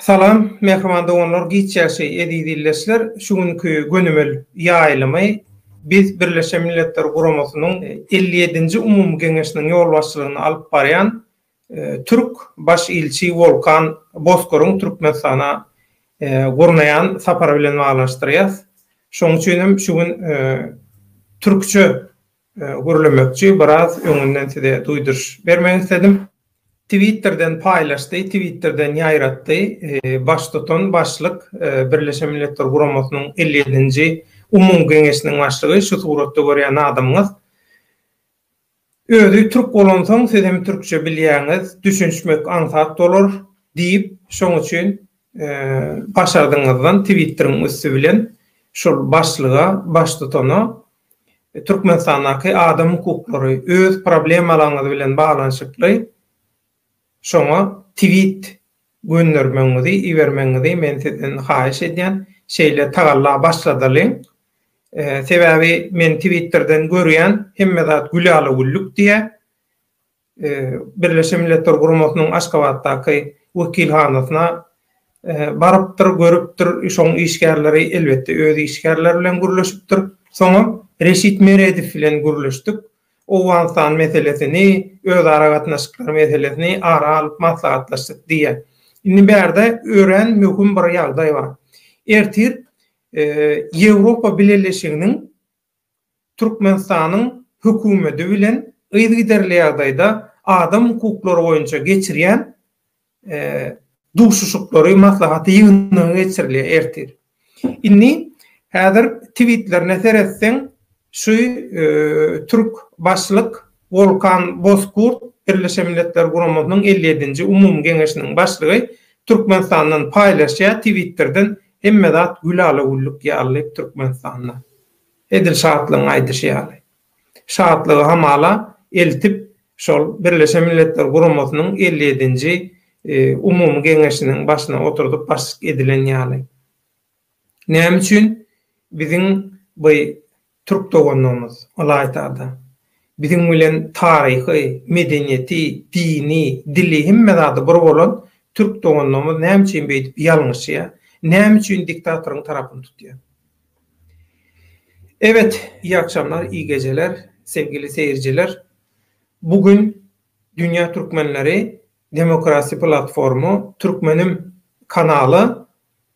Salam, mähriban doganlar, giç ýagşy, eziz ildeşler! Şu günki gönümel ýaýlymy biz Birleşen Milletler Guramasynyň elli ýedinji umumy geňeşiniň ýolbaşçylygyny alyp barýan türk baş ilçi Wolkan Bozkoryň Türkmenistana gurnaýan sapary bilen baglanyşdyrýas. Şonuň üçin hem şu gün türkçe Gürlemekçi biraz öňünden size duýduryş bermek isledim. Twitterden paýlaşdy, Twitterden ýaýratdy, baştutan, başlyk, Birleşen Milletler Guramasynyň elli ýedinji Umumy Geňeşiniň başlygy, şu suratda görýän adamyňyz. Özi türk bolansoň siz hem türkçe bilýäňiz, düşünişmek aňsat bolar diýip, şoň üçin başardygyňyzdan Twitteriň üsti bilen şol başlyga, baştutana Türkmenistandaky adam hukuklary öz problemalaryňyz bilen baglanyşykly şoňa tweet göndermegiňizi ibermegiňizi men sizden haýyş edýän şeýle tagalla başladalyň sebäbi men twitterden görýän hemme zat gülala güllük diýýä. Birleşen Milletler Guramasynyň Aşgabatdaky wekilhanasyna barypdyr, görüpdir. Şoň işgärleri, elbetde, öz işgärleri bilen gürleşipdir. Soňam Reşit Meredow bilen gürleşdik. Owganystan meselesini, özara gatnaşyklar meselesini ara alyp maslahatlaşdyk diýýär. Indi bärde örän möhüm bir ýagdaý bar. Ertir Ýewropa Bileleşiginiň Türkmenistanyň Hökümedi bilen yzygiderli ýagdaýda adam hukuklary boýunça geçirýän duşuşyklary, maslahaty ýygnagy geçirilýär ertir. Indi häzir twitlerine seretseň, şu türk başlyk Wolkan Bozkurt, Birleşen Milletler Guramasynyň elli ýedinji Umumy Geňeşiniň başlygy Türkmenistandan paýlaşýar, twitterden Hemme zat gülala-güllük ýaly Türkmenistanda. Edil Şatlygyň aýdyşy ýaly. Şatlygy hamala eltip, şol Birleşen Milletler Guramasynyň elli ýedinji Umumy Geňeşiniň başyna oturdyp başlyk edilen ýaly. Näme üçin biziň by Türk doganlarymyz, ylaýta-da, biziň bilen taryhy, medeniýeti, dini, dili, hemme zady bir bolan türk doganlarymyz näme üçin beýdip ýalňyşýar, näme üçin diktatoryň tarapyny tutýar? Ebet, iyi akşamlar, iyi geceler, sevgili seyirciler. Bu gün Dünya Türkmenleri Demokrasi Platformu Türkmenim kanaly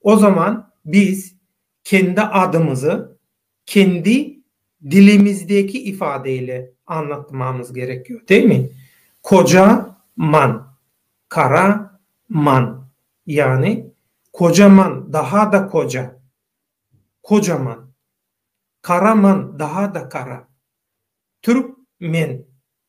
O zaman biz kendi adymyzy kendi dilimizdeki ifade ile anlatmamyz gerek yok demi? Koja man, kara man yani kocaman daha da koja, kocaman, karaman daha da kara, türk men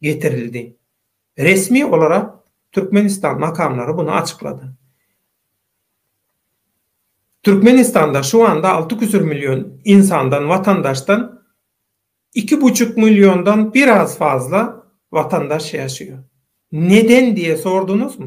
getirildi. Resmi olara Türkmenistan makamlary bunu açyklady. Türkmenistanda şu anda alty küsür million ynsandan, watandaşdan iki buçuk milliondan biraz fazla watandaş ýaşaýar. Neden diýe sorduňyzmy?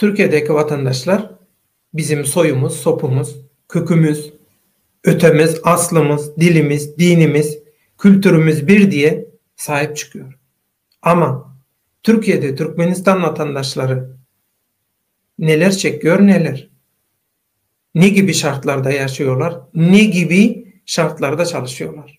Türkiýedäki watandaşlar bizim soýumyz, sopumyz, kökimiz, ötemiz, aslymyz, dilimiz, dinimiz, kültürimiz bir diýe saýyp çykýar. Ama, Türkiýede Türkmenistan watandaşlary neler çekýar neler? Ne gibi şartlarda ýaşaýarlar, ne gibi şartlarda çalyşýarlar?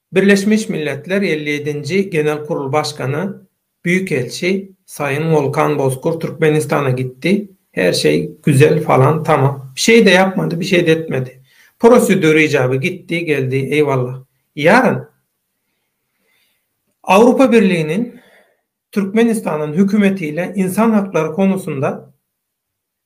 Birleşmiş Milletler elli ýedinji Genel Kurul Başgany, Büýük Elçi, Saýyn Wolkan Bozkur Türkmenistana gitdi, her şeý güzel falan tamam. Bir şeýde ýapmady, bir şeýde etmedi. Prosedür ijaby gitdi, geldi, eýwallah. Ýaryn Awrupa Birliginiň Türkmenistanyň hökümeti ile insan haklary konusynda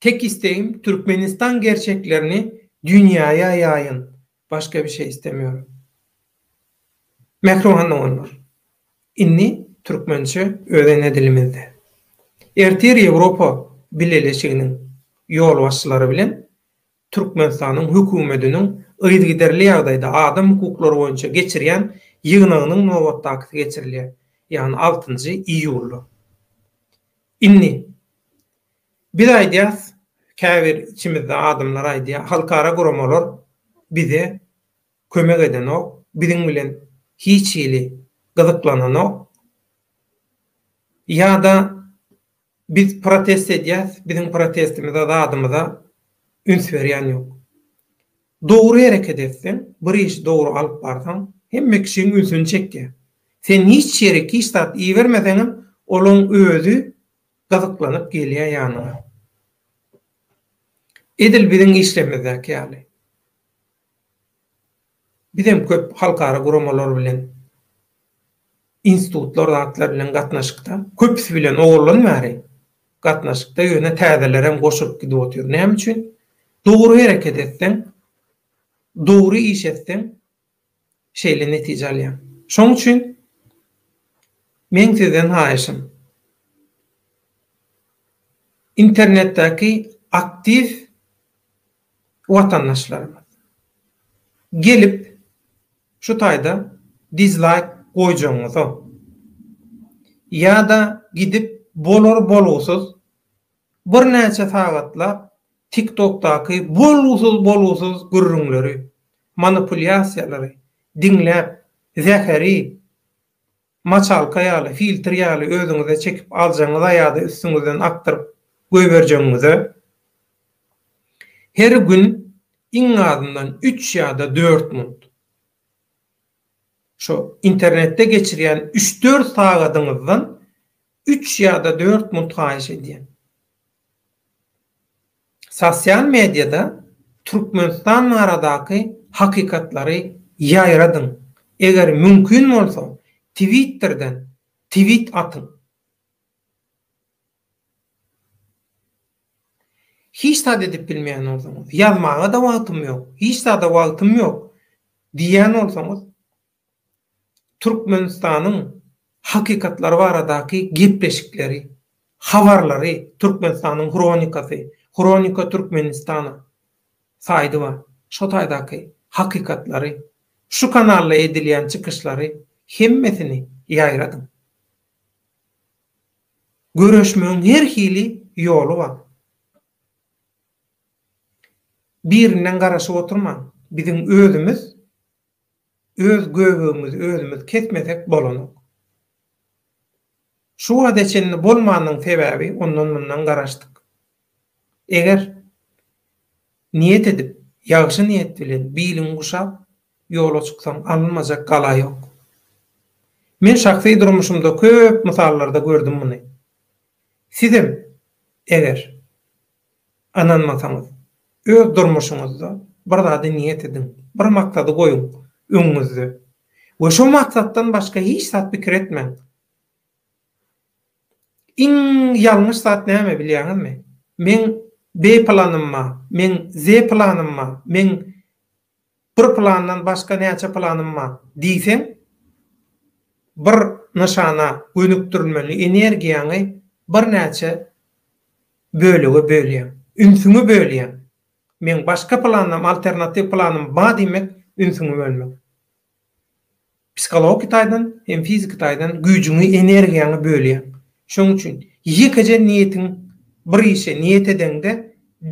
Tek istegim Türkmenistan gerçeklerini dünýaya ýaýyn başga bir şey istemýorin. Mähriban doganlar indi türkmençe öz ene dilimizde. Ertir Ýewropa bileleşiginiň ýolbaşçylary bilen Türkmenistanyň Hökümetiniň yzygiderli ýagdaýda adam hukuklary boýunça geçirýän ýygnagynyň nobatdakysy geçirilýär, ýagny altynjy iýulda. Indi Biz aýdýas, käbir içimizde adamlar aýdýar, halkara guramalar bize kömek edenok, biziň bilen hiç hili gyzyklananok ýa-da Biz protest edýäs, biziň protestimize, zadymyza üns berýän ýok. Dogry hereket etseň, bir işi dogry alyp barsaň, hemme kişiň ünsüni çekýär. Sen hiç ýerik, hiç zat ibermeseňem, olaň özi gyzyklanyp gelýär ýanyňa. Edil biziň işlerimizdäki ýaly. Biz hem köp halkara guramalar bilen, institutlar zatlar bilen gatnaşykda. Köpüsi bilen owaldan bäri gatnaşykda, ýöne täzelerem goşulyp gidip otyr. Näme üçin? Dogry hereket etseň, dogry iş etseň, şeýle netije alýaň. Şonuň üçin meň sizden haýyşym, internetdäki aktiw Watandaşlarymyz. Gelip şu taýda dizlaýk goýjagyňyza. Ýada gidip bolar bolgusyz bir näçe sagatlap tiktokdaky bolgusyz bolgusyz gürrüňleri, manipulýasiýalary diňläp zäheri maçalka ýaly, filtr ýaly özüňize çekip aljagyňyza ýa-da üstüňizden akdyryp goýberjegiňize, her gün iň azyndan üç ýa-da dört munt, şo internetde geçirýän üç-dört sagadyňyzdan üç ýa-da dört munt haýyş edýän. Sosial mediada Türkmenistan baradaky hakykatlary ýaýradyň. Eger mümkin bolsa, Twitterden twit atyň. Hiç zat edip bilmeýän bolsaňyz, ýazmaga-da wagtym ýok, hiç zada wagtym ýok diýýän bolsaňyz, Türkmenistanyň hakykatlary baradaky gepleşikleri, habarlary Türkmenistanyň hronikasy, Hronika Türkmenistana, saýdy bar. Şo taýdaky hakykatlary, şu kanalda edilýän çykyşlary hemmesini ýaýradyň. Göreşmegiň her hili ýoly bar. Birinden garaşyp oturmaň. Biziň özümiz öz göbegimizi özümiz kesmesek bolanok. Şu wagta çenli bolmanynyň sebäbi ondan mundan garaşdyk. Eger niýet edip, ýagşy niýet bilen biliňi guşap ýola çyksaň alynmajak gala ýok. Men şahsy durmuşymda köp mysallarda gördüm muny. Sizem eger Ynanmasaňyz, öz durmuşyňyzda bir zady niýet ediň, bir maksady goýuň öňüňizde we şo maksatdan başga hiç zat pikir etmäň. Iň ýalňyş zat näme bilýäňizmi? Meň B-planym bar, meň Z-planym bar, meň Bir plandan başga näçe planym bar? diýseň, bir nyşana gönükdirilmeli energiýaňy birnäçe bölege bölýäň. Ünsüňi bölýäň. Meň başga planym, alternatiw planym bar diýmek, ünsüňi bölmek. Psihologiki taýdan hem fiziki taýdan güýjüňi, energiýaňy bölýäň. Şonuň üçin ýekeje niýetiň, bir işe niýet edeňde,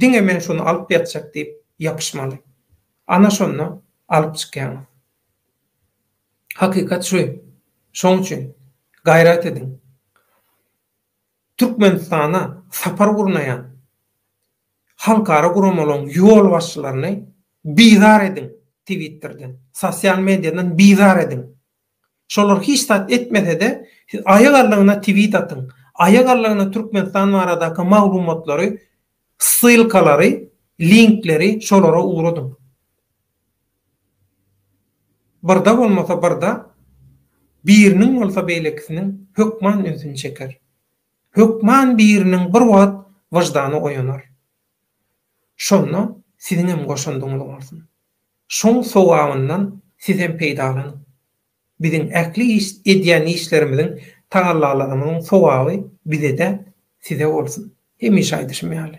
diňe men şony alyp ýatjak diýip ýapyşmaly. Ana şonda alyp çykýaňyz. Hakykat şu. Şonuň üçin gaýrat ediň. Türkmenistana sapar gurnaýan halkara guramalaryň ýolbaşçylaryny bizar ediň Twitterden, sosial mediadan bizar ediň. Şolar hiç zat etmese-de, siz aýak allygyna twit atyň, aýak allygyna Türkmenistan baradaky maglumatlary Ssylkalary, linkleri şolara ugradyň. Birde bolmasa birde biriniň bolsa beýlekisiniň hökman ünsüni çeker. Hökman biriniň bir wagt wyždany oýanar. Şonda siziňem goşandyňyz bolsun. Şoň sogabyndan sizem peýdalanyň. Biziň ähli iş edýän işlerimiziň, tagallalarymyzyň sowaby bize däl, size bolsun. Hemişe aýdyşym ýaly.